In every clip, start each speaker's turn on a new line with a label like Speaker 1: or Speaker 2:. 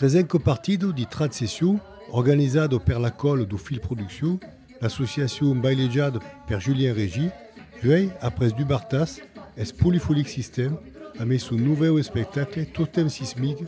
Speaker 1: Tresenco partido de tradsession organizado per la Còl do Fil Produccion, l'associacion bailejada per Julien Régi, uèi après Dubartas, eth Polyphonic System amé son novèu espectacle Totem Sismique,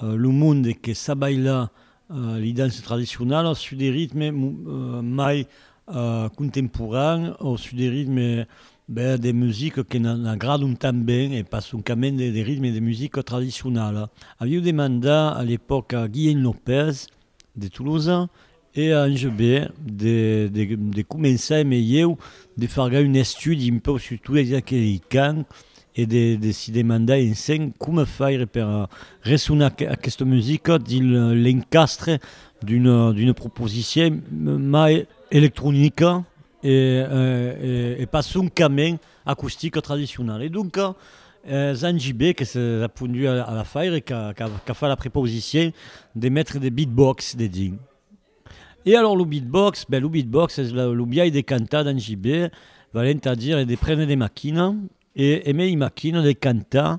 Speaker 2: Lo monde que sap bailar li dances tradicionalas sus de ritmes mai contemporans o sus de ritmes ben de musica que n'agradon tanben e pas soncament de ritmes de musica tradicionala. Aviu demandat a l'epòca a Guilheny Lopez de Tolosa E ange be de de de començar e melheu de fargar un estudi un peu sus tot es aqueri cant e de de si demandar en sen coma faire per ressonar aquesta musica dins l'encastre d'una d'una proposicion mai electronica e e e pas soncament acustica tradicionala. E donca Jean JB que se repondu a la faire qu'a fait la prepausicien de metre de beatbox dedins. E alors lo beatbox, ben lo beatbox es lo biais de cantar Jean JB, valent a dire de prene de maquina e emei maquina de cantar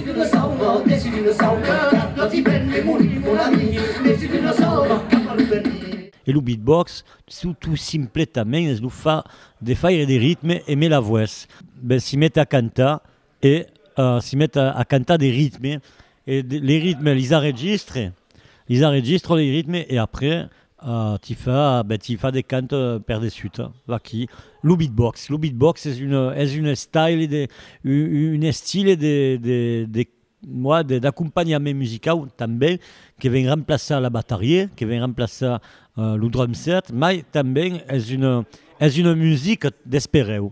Speaker 2: Tu ne sòu pas, que si tu ne sòu que cap Quand i ven de morir mon ami Mais si tu ne sòu pas cap a lo venir. E lo beatbox tout simpletament es lo far de faire de ritme e me la voès ben si met a cantar e si met a cantar de ritme e les ritmes lis arregistre. Lis arregistro li ritme e après ti fa ben ti fa de cant per de sut. Vaquí lo beatbox. Lo beatbox es un es un style de un estile de de de moi de d'acompanhament musicau tanben que ven remplaçar la batarie, que ven remplaçar lo drum set, mai tanben es una es una musica d'esperèu.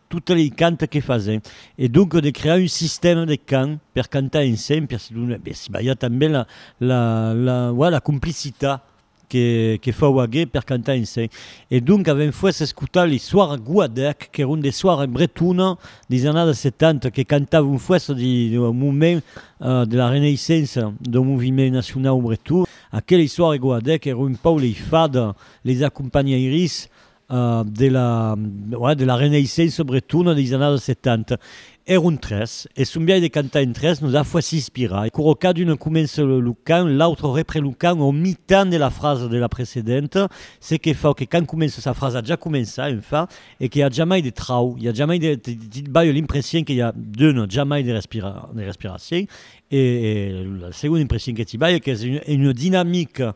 Speaker 2: Totes lei cants que fasen. E donc de crear un sistèma de cants per cantar ensemble, per se donar, per si balhar tanben la la la ouais la complicitat que que fau aguer per cantar ensemble. E donc avèm fuèsse escotar lei soires Guadèc qu'èron de soires bretona deis annadas 70 que cantavon fuèsse de au moment de la reneissença dau moviment nacionau breton. Aquelei soires Guadèc èron un pau lei fada, leis acompanhairis de la ouais de la renaissance bretona des annadas 70 èron tres e son biais de cantar en tres nos a fach inspirar e quora cada un comença lo cant l'autre repren lo cant au mitan de la frasa de la precedenta se que fau que quand comença sa frasa ja comença en fin e que i a jamai de trau i a jamai de ti balho l'impression que i a d'una jamai de respira de respiracion e la segona impression que ti balho qu'es una dinamica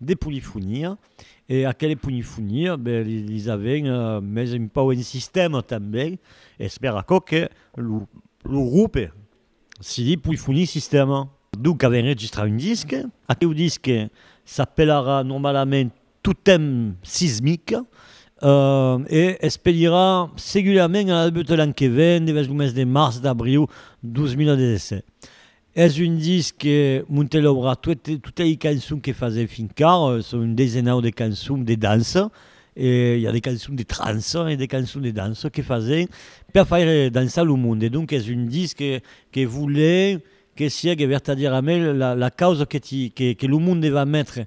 Speaker 2: De polifonia, e aquele polifonia, ben, li, lis aven mes un pau en sistèma tanben, es per aquò que lo, lo grupe se di Polyphony Sistema. Donc aven registrat un disque, aqueu disque s'apelarà normalament Totem Sismic, e es pedirà seguidament a l'albut de l'an que ven, devers lo mes de març, d'abriu 2017. Es un disc que Montelh aurà tuet, totes ei cançons que fasèm fin quart, son un desenau de cançons de dança, e i a de cançons de trança e de cançons de dança que fasèm per faire dançar lo monde, donc es un disc que que volèm que siegue vertadièrament la la causa que ti que que lo monde va metre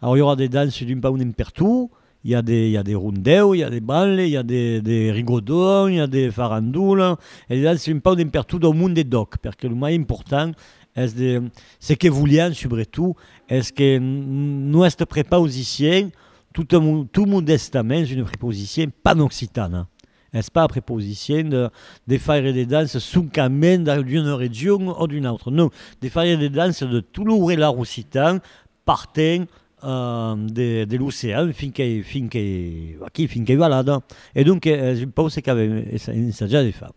Speaker 2: Aur i aurà de dances d'un pauc nen per tu, i a de i a de rondèu, i a de balle, i a de de rigodon, i a de farandola, e de dances un pauc nen per tu dau mond de dòc, perque lo mai important es de ce que volián subretot es que nuestre prepaus disién tot mo tot modèstament es una prepaus disién panoccitana, es pas prepaus disién de de faire de dances soncament dau d'una region o d'una autra, non, de faire de dances de tout lo hourelar occitan Partent de l'ocean fin qu'ei fin qu'ei aquí fin qu'ei balada e donc es un pòu se qu'avem ensajat de far.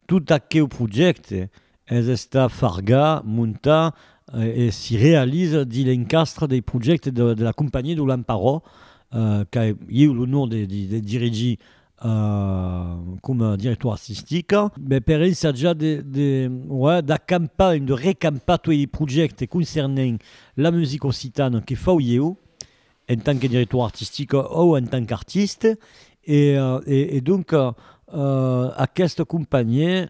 Speaker 2: Tot aqueu projècte es estat fargat, montat e si realiza dins l'encastre dei projèctes de la Companhia d'Olamparò qu'a ieu l'onor de dirigir coma director artistic, me per ensatjar de, de, ouais, d'acampar, de recampar tuei li projèctes concernent la musica occitana que fau ieu, en tant que director artistic o en tant qu'artiste, e, e, e donc, uh, aquesta companhièr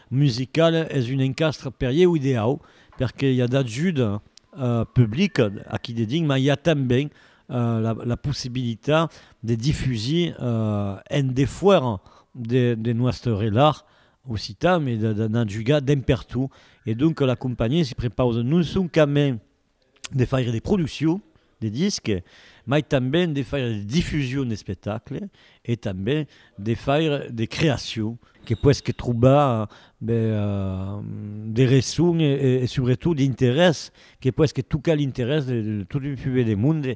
Speaker 2: musicale es un encastre per ieu ideau perque i a d'ajuda publica aquí dedins mas i a tanben la possibilitat de difusir en defuèra de nòstre relat occitan e d'anar jugar dempertot e donc la companhiá se prepausa non soncament de faire de produccion de disc, mai tanben de faire de difusion d'espectacle e tanben de faire de creacion, que puesque trobar de reçon e subretot d'interès, que puesque tocar l'interès de tot un fuet de monde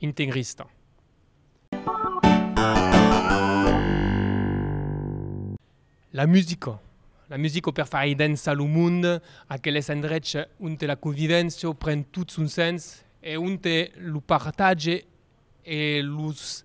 Speaker 3: integrista. La musica. La musica per far aidençar lo monde, aqueles endrechs onte la convivéncia pren tot son sens e onte lo partatge e los